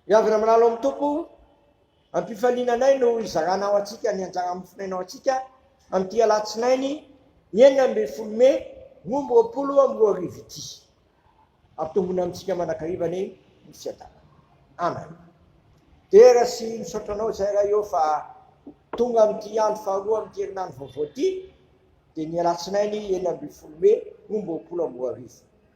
Miavona milalo amin'ny Tompo, ampifaliana anay no hizaranao antsika ny anjara mofonainao antsika amin'ity alatsinainy enina ambin'ny folo mey roa amby roapolo amby roa arivo ity. Ampitombona amintsika mandrakariva ny ny fiadanana. Amen. Dera sy misaotra anao izay raha eo fa tonga amin'ity andro faharoa amin'ity herinandro vaovao ity dia ny alatsinainy enina ambin'ny folo mey roa amby roapolo amby roa arivo.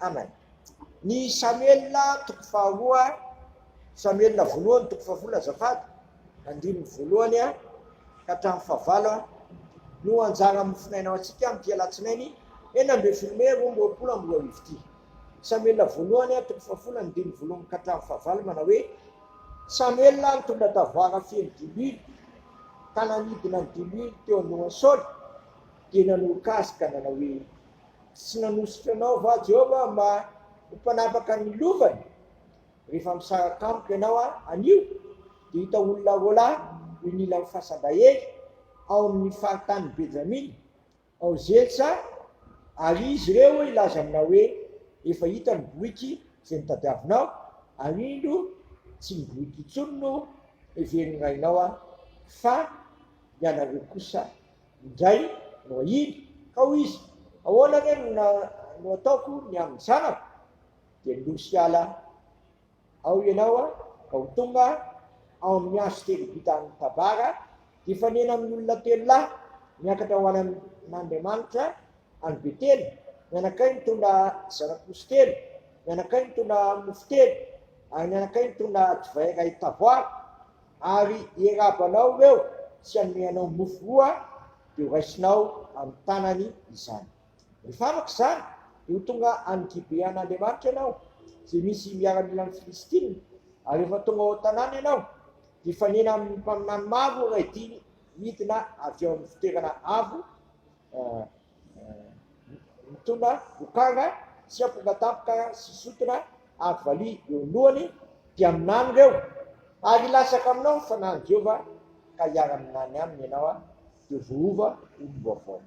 Amen. Ny Samuela toko faharoa, Samuela voalohany toko faharoa azafady, andininy voalohany a, ka hatramin'ny fahavalo a, no anjara mofonaina ho antsika amin'ity alatsinainy enina ambin'ny folo mey roa amby roapolo amby roa arivo ity. Samuela voalohany a, toko fahafolo andininy voalohany ka hatramin'ny fahavalo manao hoe Samuela nitondra tavoara feno diloilo ka nanidina ny diloilo teo anohan'i Saoly dia nanoroka azy ka nanao hoe Tsy nanosika anao va Joba mba ho mpanapaka ny lovany? Rehefa misaraka amiko ianao anio, dia hita olona roa lahy eo inilan'ny fasan-dahely ao amin'ny faritanin'i Benjamina, ao Zelsa, ary izy ireo hilaza aminao hoe, 'Efa hita ny boriky izay nitadiavinao, ary indro, tsy ny boriky intsony no heverin'ny rainao, fa ny anareo kosa. indray no ahiana, ka hoy izy, Ahoana re no no ataoko ny amin'ny zanako? Dia nindosy hiala ao ianao aho, ka ho tonga aho amin'ny andro telo vita amin'ny tabara, hifanena amin'ny olona telo lahy miakatra ho any amin'Andriamanitra any Betela, ny anakay mitondra zana-posy telo, ny anakay mitondra mofo telo, ary ny anakay mitondra divay iray tavoara. Ary iarabanao ireo tsy hanome anao mofo roa, dia ho raisinao amin'ny tanany izany. Rehefa afaka izany, dia ho tonga any Gibean'Andriamanitra ianao, izay misy miaramilan'ny Filistina, ary rehefa tonga ao an-tanàna ianao, dia hifanena amin'ny mpaminany maro iray dimy midina avy ao amin'ny fitoerana avo, Mitondra vokanga sy amponga tampoka sy sotona avo valiha eo ny lohany, dia minany ireo, ary hilatsaka aminao ny Fanahin'i Jehovah, ka hiara-minany aminy ianao, dia voaova olom-baovao.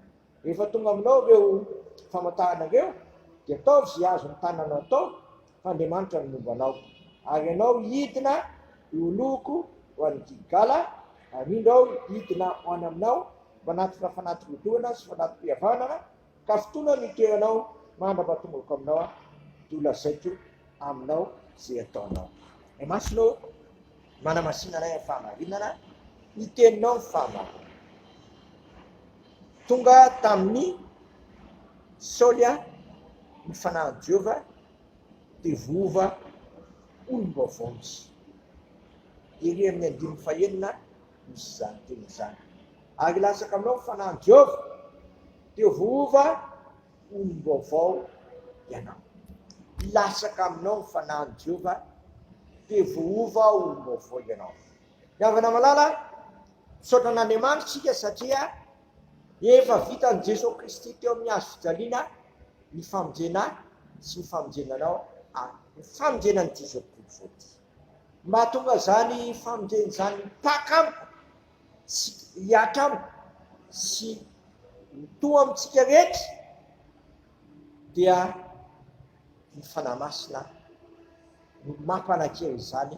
Rehefa tonga aminao ireo famantarana ireo, dia ataovy izay azon'ny tananao atao, Andriamanitra ny momba anao, ary ianao hidina hioloko ho any Gilgala, ary indro aho hidina ho any aminao, manatona fanati-bodoana sy fanati-pihavanana, ka fotoana no hitoeranao aho, mandra-pahatongako aminao aho, dia holazaiko aminao izay hataonao. Ny masonao manamasinanay amin'ny fahamarinana, ny teninao ny fahamarinana. Tonga tamin'i Saoly ny fanahin'i Jehovah. Devova olom-baovao izy. Ery amin'ny andininy fahenina misy izany teny izany. Ary hilatsaka aminao ny Fanahin'i Jehovah. Devova olom-baovao ianao. Hilatsaka aminao ny Fanahin'i Jehovah. Devova olom-baovao ianao. Ry havana malala, misaotra an'Andriamanitra isika satria Efa vitan'i Jesoa Kristy teo amin'ny hazo fijaliana ny famonjena sy ny famonjena anao ary ny famonjena an'ity zao tontolo izao ity. Ny mahatonga izany famonjena izany hipaka amiko sy hihatra amiko sy mitoha amintsika rehetra dia ny Fanahy Masina no mampanan-kery izany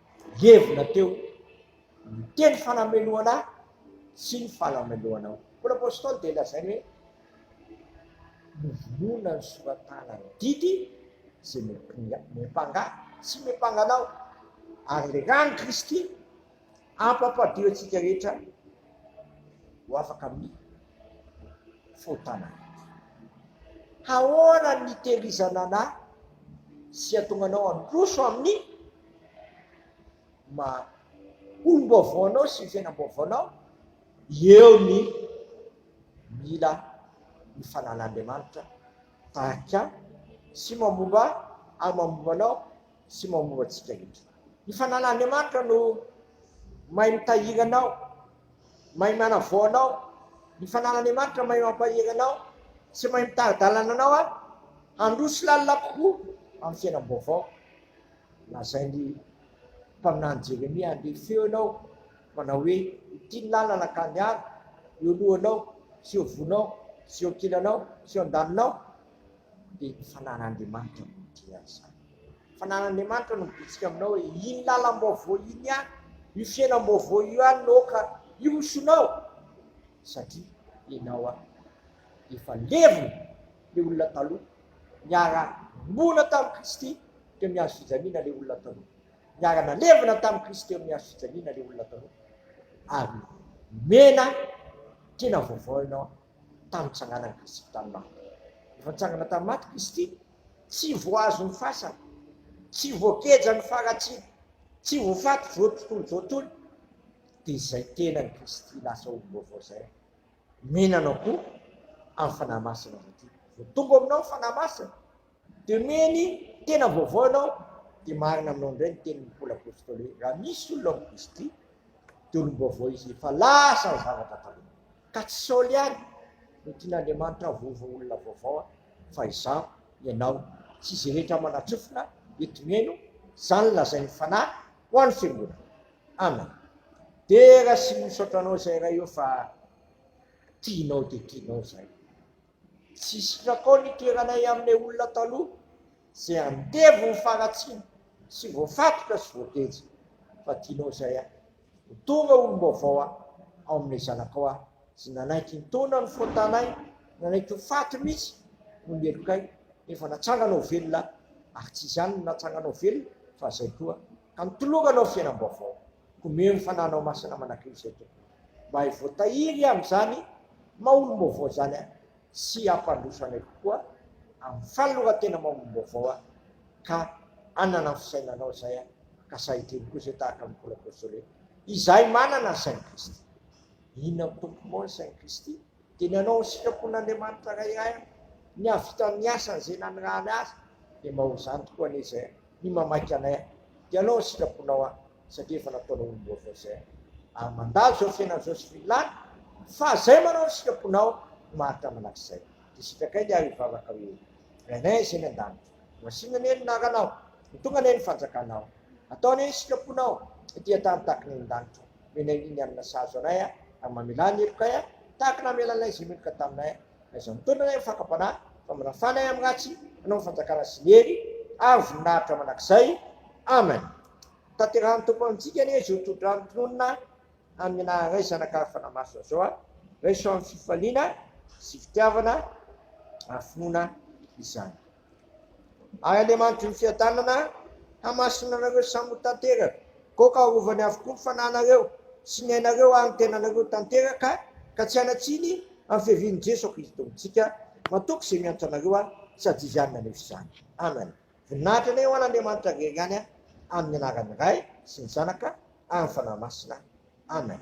Levona teo ny teny falamelohana sy ny falamelohana. Koa ny Apostoly dia lazainy hoe novonoina ny soratana ny didy izay miampanga sy miampanga anao ary ilay rano Kristy ampampadio antsika rehetra ho afaka amin'ny fotana. Haona ny terizanana sy atonganao handroso amin'ny maha olom-baovao anao sy ny fiainam-baovao anao, eo ny mila ny fanan'Andriamanitra tahaka sy mamomba ary mamomba anao sy mamomba antsika rehetra. Ny fanan'Andriamanitra no mahay mitahiry anao, mahay manavao anao, ny fanan'Andriamanitra mahay mampahery anao sy mahay mitari-dalana anao handroso lalina kokoa amin'ny fiainam-baovao. Lazain'ny mpaminany Jeremia, Andeha feo ianao, manao hoe, Ity ny lalana, ka niaro, eo lohanao, sy eo vonao, sy eo ankilanao, sy eo andaninao. Dia ny fananan'Andriamanitra no midera izany. Ny fananan'Andriamanitra no mibitsika aminao hoe, Iny lalam-baovao iny ihany, io fiainam-baovao io ihany no aoka hihosonao, satria ianao efa levona, ilay olona taloha Niara-noana tamin'i Kristy teo amin'ny hazo fijaliana ilay olona taloha. Niara-nalevina tamin'i Kristy teo amin'ny hazo fijaliana ilay olona taloha. Ary nomena tena vaovao ianao tamin'ny nitsanganan'i Kristy tamin'ny maty. Efa nitsangana tamin'ny maty Kristy, tsy voahazo ny fasana, tsy voageja ny faharatsiana, tsy voafaty voatontolo voatontolo. Dia izay tenan'i Kristy lasa olom-baovao izay. Mihinana koa amin'ny Fanahy Masina ianao ity. Vao tonga ao aminao ny Fanahy Masina, dia omeny tena vaovao ianao, dia marina aminao indray ny tenin'ny Paoly Apôstôly hoe, raha misy olona amin'i Kristy, dia olom-baovao izy, efa lasa ny zavatra taloha. Ka tsy Saoly ihany no tian'Andriamanitra hahavovo olona vaovao, fa izaho, ianao, sy izay rehetra manatsofina eto miheno izany lazain'ny Fanahy ho an'ny Fiangonana. Amen dera sy misaotra anao zay ray ô fa tianao de tianao zay tsy sitrakao ny toeranay amle olona taloha ze andevo ho faratsiny sy voafatotra sy voateja fa tianao zay a ho tonga olombaovao a ao amle zanakao a ze nanaiky nitaona ny fontanay nanaiky ho faty mitsy no ny helokay nefa natsangana ho velona ary tsy izany no natsangana ho velona fa zay koa Amitoloranao fiainam-baovao. Omeo ny Fanahinao Masina manakina izay tokony mba hay voatahiry amin'izany maha olom-baovao izany ahy sy hampandroso anay kokoa amin'ny fanoloran-tena maha olom-baovao aho ka hanana ny fisainanao izay aho ka sahy hiteny koa izay tahaka ny Paoly Apostole izahay manana ny sain'i Kristy. Inona no Tompoko moa ny sain'i Kristy? Dia ny hanao ny sitrapon'Andriamanitra Ray iray aho, ny hahavita ny asany izay nanirahany ahy, dia mba ho izany tokoa anie izay aho. ny mamaky anay an! Ianao ny sitraponao an! Satria efa nataonao olom-baovao izay an! Ary mandalo izao fiainana izao sy vilany fa izay manao ny sitraponao no maharitra manak'izay! Dia sitrakay ny ahy hivavaka hoe, Rainay izay any an-danitra, hohasina anie ny naranao, ho tonga anie ny fanjakanao, atao anie ny sitraponao ety an-tany tahaka ny any an-danitra, omena iny hanina sahazo anay an! Ary mamelà ny helokay an! Tahaka ny namelanay izay meloka taminay an! Aiza mitondra ilay fakam-panahy, famanafana ahy amin'ny ratsy, hanao ny fanjakana sy ny hery, ary voninahitra mandrakizay. Amen. Tanterahan'ny Tompo amintsika anie izao tsodrano tononina amin'ny anaran'i Ray Zanaka ary Fanahy Masina izao aho. Raiso amin'ny fifaliana sy fitiavana ary finoana izany. Ary Andriamanitry ny fiadanana hamasina anareo samy ho tanteraka, koa ka arovany avokoa ny fanahinareo sy ny ainareo ary ny tenanareo tanteraka, ka tsy hanatsiny amin'ny fiavian'i Jeso Kristo Tompontsika. Matoky izay miantra anareo aho, sady izany naneso izany. Amen. Voninahitra anay ho an'Andriamanitra rery ihany, amin'ny anaran'ny Ray sy ny Zanaka ary ny Fanahy Masina. Amen.